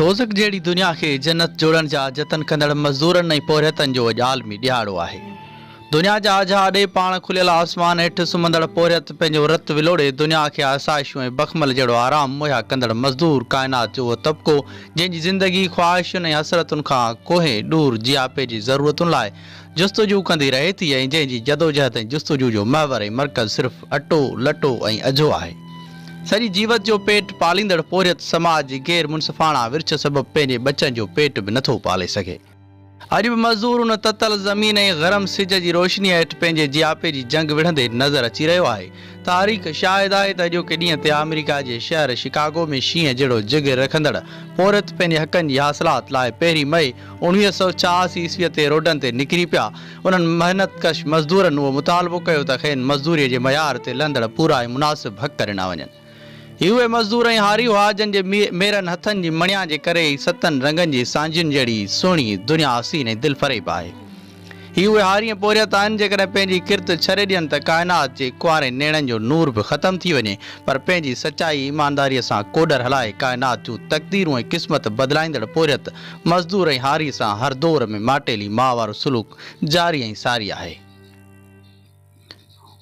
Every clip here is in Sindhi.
دوزخ جهڙي دنيا کي جنت جوڙڻ جا جتن ڪندڙ مزدورن ۽ پورهيتن جو اڄ عالمي ڏهاڙو آهي. دنيا جا اجها اڏي پاڻ کليل آسمان هيٺ سمهندڙ پورهيت پنهنجو رت ولوڙي دنيا کي آسائشون ۽ بخمل جهڙو آرام مهيا ڪندڙ مزدور ڪائنات جو اهو طبقو جنهن جي زندگي خواهشن ۽ حسرتن کان ڪوهين ڏور جياپي جي ضرورتن لاء جستجو ڪندي رهي ٿي ۽ جنهن جي جدوجهد ۽ جستجو جو محور ۽ مرڪز صرف اٽو، لٽو ۽ اجهو آهي. سڄي جيوت جو پيٽ پاليندڙ پورهيت سماج جي غير منصفاڻا ورڇ سبب پنهنجي ٻچن جو پيٽ به نٿو پالي سگهي. اڄ به مزدور ان تتل زمين ۽ گرم سج جي روشنيء هيٺ پنهنجي جياپي جي جنگ وڙهندي نظر اچي رهيو آهي. تاريخ شاهد آهي ته اڄوڪي ڏينهن تي آمريڪا جي شهر شڪاگو ۾ شينهن جهڙو جگر رکندڙ پورهيت پنهنجي حقن جي حاصلات لاء پهرين مئي اڻويهه سؤ چاهاسي عيسويء تي روڊن تي نڪري پيا. انهن محنت ڪش مزدورن اهو مطالبو ڪيو ته کين مزدوريء جي معيار تي لهندڙ پورا ۽ مناسب حق ڏنا وڃن. هي اهي مزدور ۽ هاري هئا جن جي ميرن هٿن جي مڻيا جي ڪري ئي ستن رنگن جي سانجهين جهڙي سهڻي دنيا حسين ۽ دلفريب آهي. هي اهي هارين ۽ پورهيت آهن، جيڪڏهن پنهنجي ڪرت ڇري ڏين ته ڪائنات جي ڪنوارين نيڻن جو نور به ختم ٿي وڃي، پر پنهنجي سچائي ۽ ايمانداريء سان ڪوڏر هلائي ڪائنات جون تقديرون ۽ قسمت بدلائيندڙ پورهيت، مزدور ۽ هاري سان هر دور ۾ ماٽيلي ماء وارو سلوڪ جاري ۽ ساري آهي.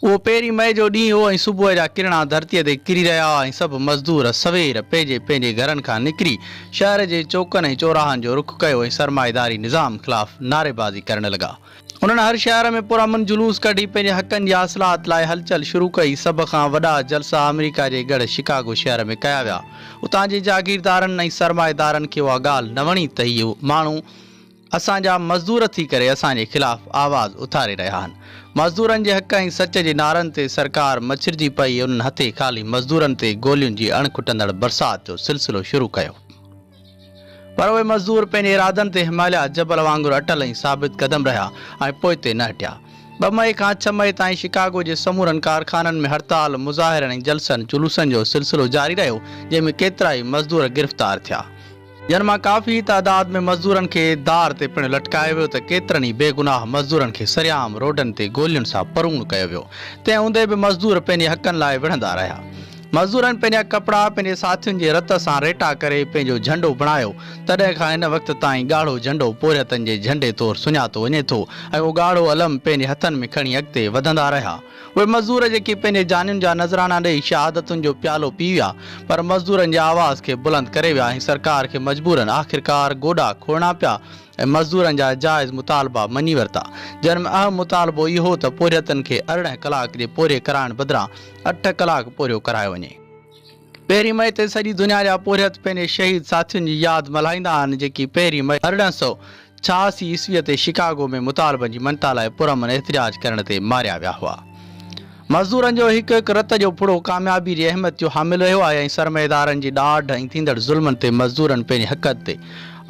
اهو پهرين مئي جو ڏينهن هو ۽ صبح جا ڪرڻا ڌرتيء تي ڪري رهيا هئا ۽ سڀ مزدور سوير پنهنجي پنهنجي گهرن کان نڪري شهر جي چوڪن ۽ چوراهن جو رخ ڪيو ۽ سرمائيداري نظام خلاف نعريبازي ڪرڻ لڳا. انهن هر شهر ۾ پرامن جلوس ڪڍي پنهنجي حقن جي حاصلات لاء هلچل شروع ڪئي. سڀ کان وڏا جلسا آمريڪا جي ڳڙهه شڪاگو شهر ۾ ڪيا ويا. اتان جي جاگيردارن ۽ سرمائيدارن کي اها ڳالهه نه وڻي ته هي ماڻهو، اسان جا مزدور ٿي ڪري اسان جي خلاف آواز اٿاري رهيا آهن. مزدورن جي حق ۽ سچ جي نعرن تي سرڪار مڇرجي پئي ۽ انهن هٿي خالي مزدورن تي گولين جي اڻ کٽندڙ برسات جو سلسلو شروع ڪيو. پر اهي مزدور پنهنجي ارادن تي هماليا جبل وانگر اٽل ۽ ثابت قدم رهيا ۽ پوئتي نه هٽيا. ٻه مئي کان ڇهه مئي تائين شڪاگو جي سمورن ڪارخانن ۾ هڙتال، مظاهرن ۽ جلسن جلوسن جو سلسلو جاري رهيو جنهن ۾ ڪيترائي مزدور گرفتار ٿيا. جن مان ڪافي تعداد ۾ مزدورن کي دار تي پڻ لٽڪايو ويو ته ڪيترن ئي بيگناهه مزدورن کي سرعام روڊن تي گولين سان پروڻ ڪيو ويو. تنهن هوندي به مزدور پنهنجي حقن لاء وڙهندا رهيا. مزدورن پنهنجا ڪپڙا پنهنجي ساٿين جي رت سان ريٽا ڪري پنهنجو جهنڊو بڻايو. تڏهن کان هن وقت تائين ڳاڙهو جهنڊو پورهيتن جي جهنڊي طور سڃاتو وڃي ٿو ۽ اهو ڳاڙهو علم پنهنجي هٿن ۾ کڻي اڳتي وڌندا رهيا. اهي مزدور جيڪي پنهنجي جانين جا نذراڻا ڏئي شهادتن جو پيالو پي ويا پر مزدورن جي آواز کي بلند ڪري ويا ۽ سرڪار کي مجبورن آخرڪار گوڏا کوڙڻا پيا ۽ مزدورن جا جائز مطالبا مڃي ورتا جن ۾ اهم مطالبو اهو ته پورهيتن کي ارڙهن ڪلاڪ جي پورهيي ڪرائڻ بدران اٺ ڪلاڪ پورهيو ڪرايو وڃي. پهرين مئي تي سڄي دنيا جا پورهيت پنهنجي شهيد ساٿين جي ياد ملهائيندا آهن جيڪي پهرين مئي ارڙهن سؤ ڇهاسي عيسويء تي شڪاگو ۾ مطالبن جي مڃتا لاء پرامن احتجاج ڪرڻ تي ماريا ويا هئا. مزدورن جو هڪ هڪ رت جو ڦڙو ڪاميابي جي اهميت جو حامل رهيو آهي ۽ سرمائيدارن جي ڏاڍ ۽ ٿيندڙ ظلمن تي مزدورن پنهنجي حقن تي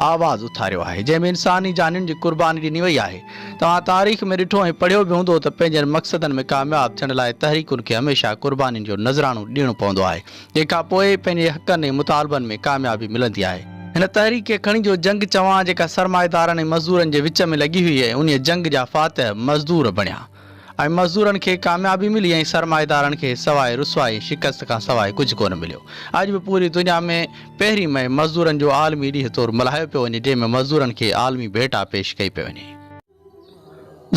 آواز اٿاريو آهي جنهن ۾ انساني جانين جي قرباني ڏني وئي آهي توهان تاريخ ۾ ڏٺو ۽ پڙهيو به هوندو ته پنهنجن مقصدن ۾ ڪامياب ٿيڻ لاء تحريڪن کي هميشه قربانين جو نذرانو ڏيڻو پوندو آهي جنهن کان پوء ئي پنهنجي حقن ۽ مطالبن ۾ ڪاميابي ملندي آهي. هن تحريڪ کي کڻي جو جنگ چوان جيڪا سرمائيدارن ۽ مزدورن جي وچ ۾ لڳي هئي ۽ انهي جنگ جا فاتح مزدور بڻيا. ۽ مزدورن کي ڪاميابي ملي ۽ سرمائيدارن کي سواء رسوائي شڪست کان سواء ڪجهه ڪونه مليو. اڄ به پوري دنيا ۾ پهرين مئي مزدورن جو عالمي ڏينهن طور ملهايو پيو وڃي جنهن ۾ مزدورن کي عالمي ڀيٽا پيش ڪئي پئي وڃي.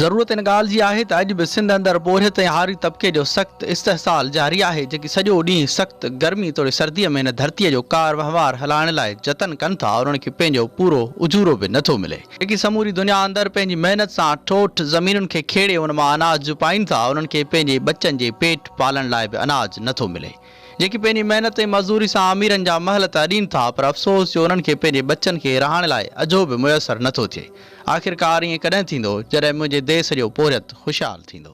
ضرورت ان ڳالهه جي آهي ته اڄ به سنڌ اندر پورهيت ۽ هاري طبقي جو سخت استحصال جاري آهي جيڪي سڄو ڏينهن سخت گرمي توڙي سردي ۾ هن ڌرتي جو ڪار وهنوار هلائڻ لاء جتن ڪن ٿا انهن کي پنهنجو پورو اجورو به نٿو ملي. جيڪي سموري دنيا اندر پنهنجي محنت سان ٺوٺ زمينن کي کيڙي ان مان اناج جپائين ٿا، انهن کي پنهنجي ٻچن جي پيٽ پالڻ لاء به اناج نه ٿو ملي. جيڪي پنهنجي محنت ۽ مزدوري سان اميرن جا محل ته اڏين ٿا پر افسوس جو انهن کي پنهنجي ٻچن کي رهاڻي لاء اجهو به ميسر نه ٿو ٿئي. آخرڪار ائين ڪڏهن ٿيندو جڏهن منهنجي ديس جو پورهيت خوشحال ٿيندو.